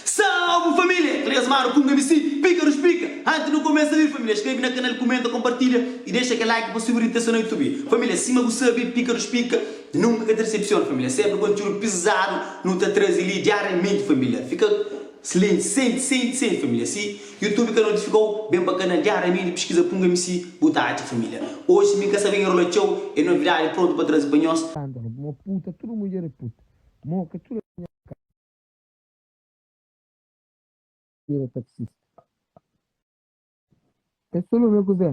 Salve família! Três manu ku un MC, Píkarus Pika! Antis nu kumesa li família, skrebe na kanal, kumenta, konpartilha i dexa kel like pa subi ritesa na Youtube. Família, sima bu sabe, Píkarus Pika nunka ka ta desepsiona família, sénpri kontiúdu pizadu nu ta traze li diariamenti família. Fika slienti, senti, senti, senti família si Youtube ka notifikau ben pa kanal dja Ramiri piskiza punga msi bu ta atxa familia oji mi ka sabe enrola txau e novidadi prontu pa trazi pa nhos. Scandalo mo puta tudo mulher é puta mo ka tudo é nha cara. Vira taxista é solume ku zen.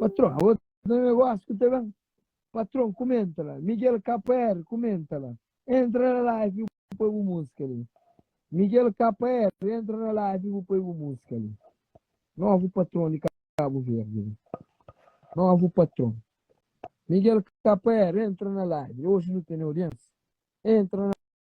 Patron, a otu negosi ku ta ben. Patron, kumenta la. Miguel KPR, kumenta la. Entra na live bu poi bu musika li. Miguel KPR, entra na live bu poi bu musika li. Novu patron di Kabu Verdi. Novu patron. Miguel KPR, entra na live. Oji nu tene audiensia. Entra na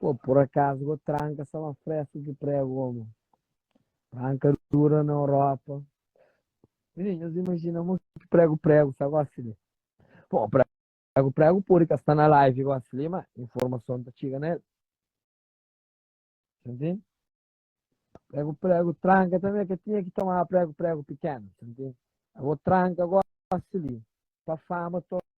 Ô pur akazu go tranka sa ma fresku ki pregu omo tranka dura na Europa. Minin nhos imajina mo ki pregu pregu sa gosi li. Pô pregu pregu podi ka sta na live gosi li ma informason ta txiga na el. Sintindi? Pregu pregu tranka tanbe ka tinha ki tomaba pregu pregu pikenu. Sintindi? Abo tranka gosi li pa fama to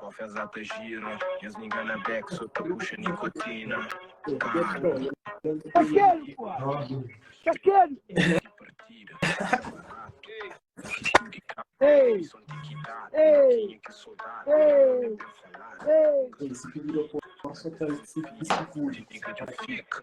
Konfesá ta gira Nhas niga na bek so ta puxa nikotina Ka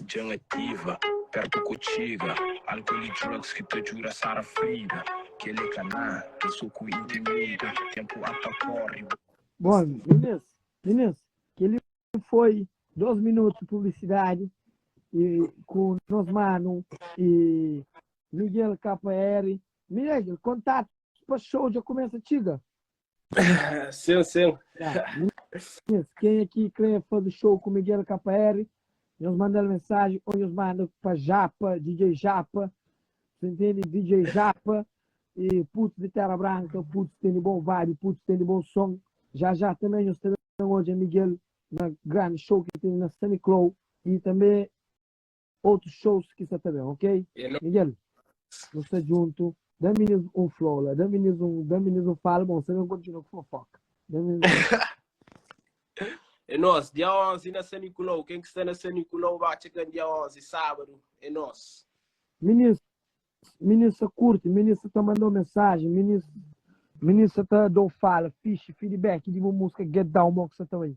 Djen ativa, pertu ku txiga Álcool y drugs ki ta djuda sara frida Kel é kaná, kel so ku intimida Tenpu a ta korri, bu. Bon, minus, minus, kel-li foi dos minutu di publisidadi e ku nos manu e Miguel KR. Miegel, kontatus pa xou dja kumesa txiga? Sim, sim. Sim, quem é que quer fazer show com Miguel KR? Nós mandamos mensagem ou nós mandamos para Japa, DJ Japa, você entende? DJ Japa e Putz de Terra Branca, Putz tem de bom vibe, Putz tem de bom som. Já já também nós temos hoje Miguel na grande show que tem na Sunny Clow e também Otus shows ki sa ta ben ok. Miguel nu sta djuntu dami nhos um flow la dami nhos um dami nhos um fala bom sa ben kontinua ku fofoka dami É nós, dia 11 na San Nicolau. Quem que está na San Nicolau vai chegar dia 11, sábado. É nós. Minis, minis sa curte, minis sa tá mandou mensagem, minis, minis sa tá dou fala, fixe, feedback de uma música Get Down, mo que sa tá aí.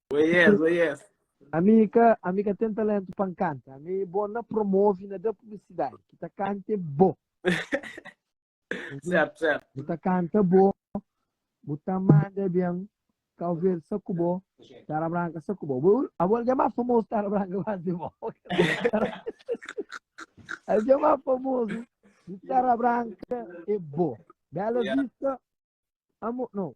Oi yes, oi yes. Ami ka, ami ka ten talentu pa nkanta. Ami bo na promove, na da publisidade. Ki ta kanta é bo. Certo, certo. Bu ta kanta bo, bu ta manda bem, Cabo Verde sa ku bo, Tara Branca sa ku bo. Bu, a bo já mais famoso Tara Branca quase de bo. A já mais famoso de Tara Branca é bo. Bela Yeah. Vista, amo, não,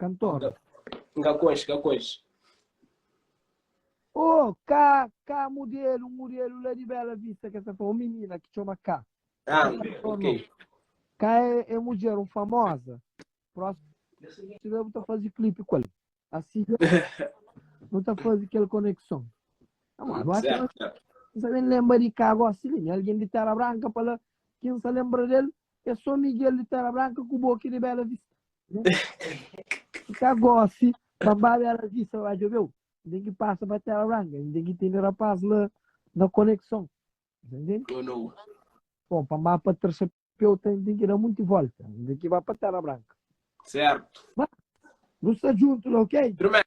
Kantor. N ka konxe, ka konxe. Ô, Ká, Ká Murielu, un Murielu la di Bela Vista ki es ta fla, un minina ki txoma Ká. Ah, Ká Kantor ok. nau. Ká é é mudjer, un famoza. Próxima bes bu ta faze klipe ku el. Asi dja nu ta faze kel konekson. Amor, bu acha ma Certo. N sa ben lenbra di Ká gósi li? Mi algen di Téra Branka pa la ki N sa lenbra di el é sô Miguel di Téra Branka ku bo ki di Bela Vista. Ka gosi, pambaba ela visa la, djobe eu, N tem que passa pa Terra Branca, N tem que tende rapaz la na conexão. Tá entende? Ou não. Bom, pambaba pa terça eu tem, tem que dar muito volta, N tem que vá pa Terra Branca. Certo. Nós tá junto lá, ok? Primeiro.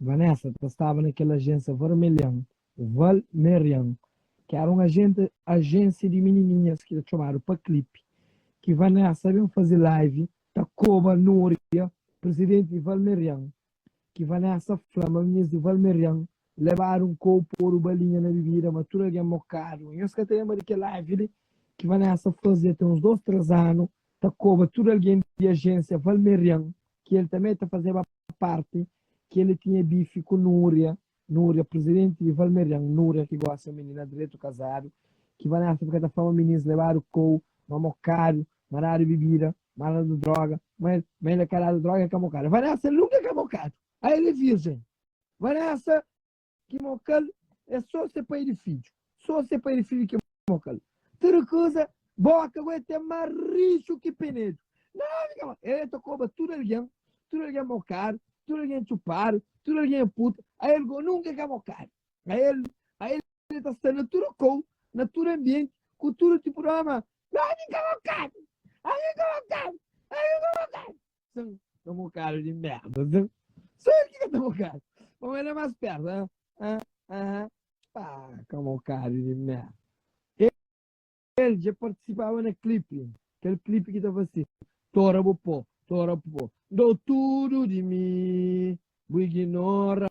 Vanessa ta staba na kel ajénsia varmelhan, Val Merian, ki éra un ajénsia di minininhas ki ta txomadu pa klip, ki Vanessa ben faze live ta koba Núria, prizidenti di Val Merian, ki Vanessa fla ma minhas di Val Merian lebadu un kôu podu balinha na bibida ma tudu algen mokadu. Nhos ka ta lenbra di kel live li ki Vanessa faze ten uns dôs, três anu ta koba tudu algen di ajénsia Val Merian ki el tanbê ta fazeba párti ki el tinha bifi ku Núria, Núria, prizidenti di Valmerian, Núria ki gósi é un minina dretu kazadu, ki Vanessa fika ta fla ma minins lebadu kou, ma mokadu, ma dadu bibida, ma dadu dróga, ma el, ma el é ka dadu dróga, el ka mokadu. Vanessa nunka ka mokadu. Ai el é vírjen. Vanessa. ki mokal é so se pai di fidju so se pai di fidju ki mokal ta rikuza boka bo é te ma rixu ki penedu nau fika ma el ta koba tudu algen tudu algen mokadu tudu algen txupadu tudu algen é puta a el go nunka ka mokadu a el a el el ta sta na tudu kou na tudu anbienti ku tudu tipu di ómi ma nau fika mokadu nau fika mokadu nau fika mokadu Sim, toma um cara de merda, sim. Só ele que canta um cara. Vamos ele é mais perto, né? Ah, ah, pá, toma um cara de merda. Ele, ele já participava na clipe, aquele clipe que tava assim, Tora Bopó, Tora Bopó, dou tudo de mim, vou ignorar.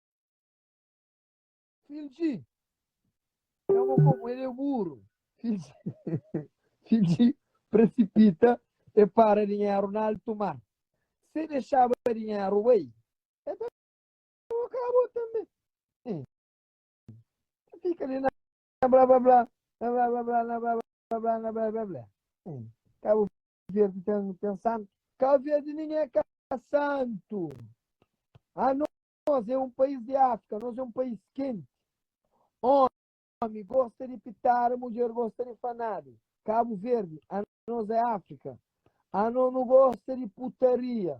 Fidji, é mo komu el é buru. Fidji, Fidji presipita, e para dinheru na altu mar. Se dexaba dinheru bai, e ta kaba tanbe. Eh, ta fika li na blá blá blá, na blá blá blá, na blá blá blá, na blá blá blá. Eh, kaba Verdi ten, ten santu? Cabo Verde nem é ca santo. Ah, nós é um país de África, nós é um país quente. Homem gosta de pitar, mulher gosta de fanado. Cabo Verde, a nós é África. A nós não gosta de putaria.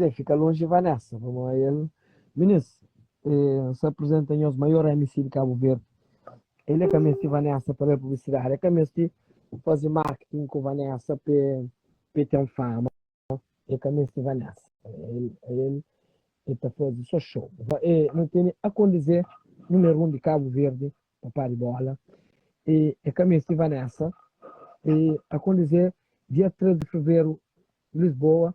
Zé fika lonji Vanessa pamó el Minis eh, sa apresenta nhos maior MC di Cabo Verde El é ka mesti Vanessa pa da-l publicidade É ka mesti fazi marketing ku Vanessa pe pe ten fama É ka mesti Vanessa El el el ta fazi so show Eh nu tene akondizé numer un di Cabo Verde Papá di bola Eh é ka mesti Vanessa Eh akondizé dia 3 di feveru Lisboa